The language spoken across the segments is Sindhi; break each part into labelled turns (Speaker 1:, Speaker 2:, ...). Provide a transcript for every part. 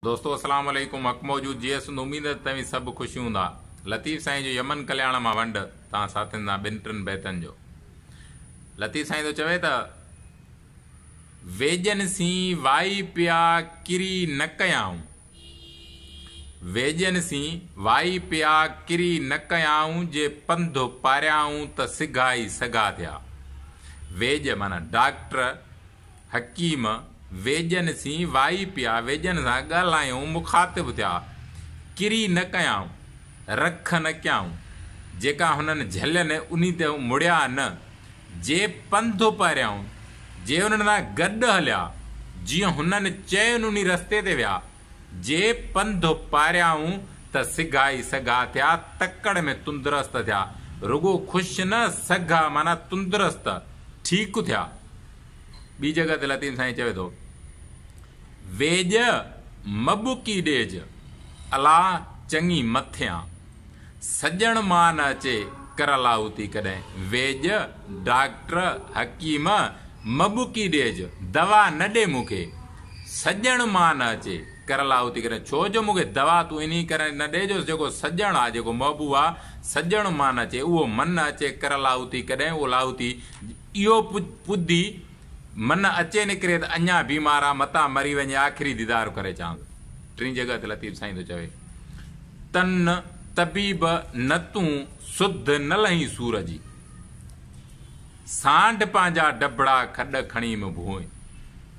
Speaker 1: دوستو اسلام عليڪم حق موجود جيئي سنڌ اميد ته توهين سڀ خوش هوندا لطيف سائين جو يمن ڪلياڻ مان ونڊ توهان ساٿين سان ٻن ٽن بيتن جو لطيف سائين ٿو چوي ته ويڄن سين وائي پيا ڪري نه ڪيائون ويڄن سين وائي پيا ڪري نه ڪيائون جي پنڌ پاريائون ته سگهائي سگها ٿيا ويڄ معنيٰ ڊاڪٽر حڪيم، ويڄن سين وائي پيا، ويڄن سان ڳالهايائون، مخاطب ٿيا. ڪري نه ڪيائون، رک نه ڪيائون، جيڪا هنن جهلين انهي تي هو مڙيا نه، جي پنڌ اپهريائون، جي انهن سان گڏ هليا، جيئن هنن چين انهي رستي تي ويا، جي پنڌ اپهريائون ته سگهائي سگها ٿيا، تڪڙ ۾ تندرست ٿيا، رڳو خوش نه، سگها معنيٰ تندرست، ٺيڪ ٿيا. ٻي جڳهه تي لطيف سائين چوي ٿو، ويڄ مٻڪي ڏيج، الا چڱي مٿيان، سڄڻ مان نه اچي ڪر الاهوتي ڪڏهن، ويڄ، ڊاڪٽر، حڪيم، مٻڪي ڏيج، دوا نه ڏي مون کي، سڄڻ مان نه اچي ڪر الاهوتي ڪڏهن، ڇو جو مون کي دوا تون انهي ڪري نه ڏي جو جيڪو سڄڻ آ، جيڪو محبوب آ، سڄڻ مان نه اچي، اهو من نه اچي ڪر الاهوتي ڪڏهن، اهو لاهوتي اهو پدي من اچي نڪري ته اڃا بيمار آ متان مري وڃي آخري ديدار ڪري چان ٿو. ٽين جڳهه تي لطيف سائين ٿو چوي تن طبيب نه تون سڌ نه لهين سور جي سانڍ پنهنجا ڊڀڙا کڏ کڻي م ڀوئي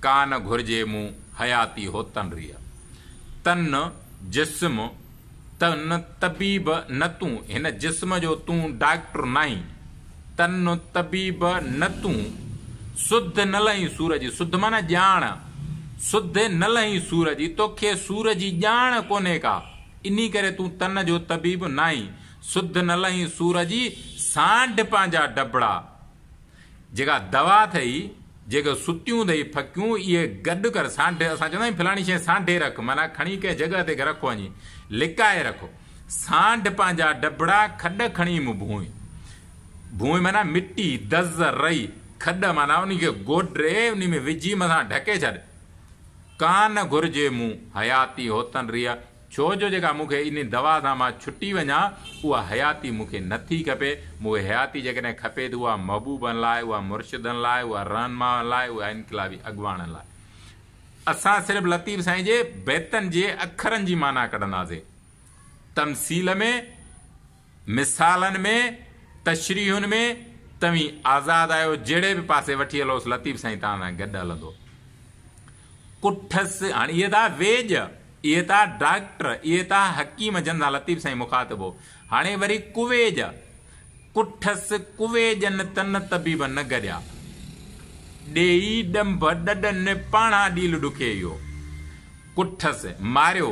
Speaker 1: ڪا نه گهرجي مون حياتي هوتن ريء تن جسم ته نه طبيب نه تون هن جسم جو تون ڊاڪٽر ناهين ته نه طبيب نه تون سڌ نه لهين سور جي سڌ معنيٰ ڄاڻ سڌ نه لهين سور جي توکي سور جي ڄاڻ ڪونهي ڪا انهي ڪري تون تن جو طبيب ناهين سڌ نه لهين سور جي سانڍ پنهنجا ڊڀڙا جيڪا دوا اٿئي، جيڪو ستيون اٿئي ڦڪيون، اهي گڏ ڪر، سانڍي، اسان چوندا آهيون فلاڻي شيء سانڍي رک، معنيٰ کڻي ڪنهن جڳهه تي رک وڃي، لڪائي رک. سانڍ پنهنجا ڊڀڙا کڏ کڻي مون ڀونء. ڀونء معنيٰ مٽي، دز، رئي، کڏ معنيٰ انهي کي گوڏري، انهي ۾ وجهي مٿان ڍڪي ڇڏ. ڪا نه گهرجي مون، حياتي هوتن ريء. ڇو جو جيڪا مون کي انهي دوا سان مان ڇٽي وڃان، اها حياتي مون کي نه ٿي کپي. مون کي حياتي جيڪڏهن کپي ٿي، اها محبوبن لاء، اها مرشدن لاء، اها رهنمائن لاء، اها انقلابي اڳواڻن لاء. اسان صرف لطيف سائين جي بيتن جي اکرن جي معنيٰ ڪڍنداسين. تمثيل ۾. مثالن ۾ تشريحن ۾ توهين آزاد آهيو جهڙي به پاسي وٺي هلوس لطيف سائين توهان سان گڏ هلندو ڪٺس هاڻي اهي ٿا ويڄ اهي ٿا ڊاڪٽر اهي ٿا حڪيم جن سان لطيف سائين مخاطب هو هاڻي وري ڪويڄ ڪٺس ڪويڄن تن طبيب نه گڏيا ڏيئي ڏنڀ ڏڏن پاڻا ڏيل ڏکي اهو ڪٺس ماريو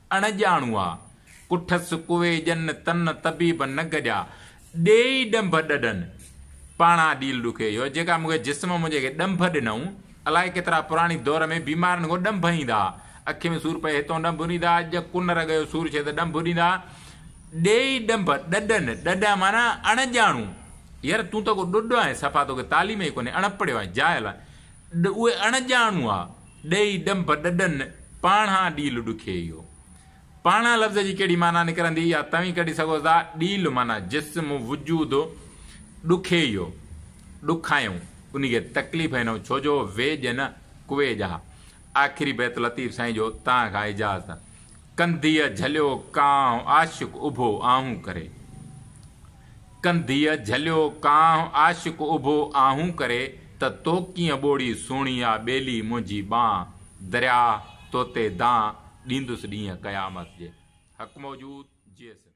Speaker 1: اڻڄاڻوئا، ڪٺس ڪوئي ڄن تن طبيب نه گڏيا، ڏيئي ڏنڀ ڏڏن، پاڻا ڏيل ڏکي اهو، جيڪا مون کي جسم منهنجي کي ڏنڀ ڏنئون، الائي ڪيترا پراڻي دور ۾ بيمارن کان ڏنڀ ايندا، اکين ۾ سور پئي هتئون ڏنڀ ڏيندا، ڄ ڪن رڳ جو سور ڇي ته ڏنڀ ڏيندا، ڏيئي ڏنڀ ڏڏن، ڏڏا معنيٰ اڻڄاڻو، ير تون ته ڪو ڏڏو آهين، صفا توکي تعليم ئي ڪونهي، اڻپڙهيو آهين، جاهل آهين، اهي اڻڄاڻوئا. ڏئي ڏنڀ ڏڏن پاڻهان ڏيل ڏکي اهو پاڻهان لفظ جي ڪهڙي معنيٰ نڪرندي يا توهين ڪڍي سگهو ٿا ڏيل معنيٰ جسم وجود ڏکي اهو ڏکايون انهي کي تڪليف هينئون ڇو جو ويڄ نه ڪوي ڄا آخري بيت لطيف سائين جو تان کان اجازت ڪنڌيء جهليو ڪانء عاشق اڀو آهون ڪري. ڪنڌيء جهليو ڪانه عاشق اڀو آهون ڪري ته تو ڪيئن ٻوڙي سهڻي آ ٻيلي منهنجي ٻانهه درياهه توتي دانهه ڏيندس ڏينهن قيامت جي حق موجود جيئي سنڌ.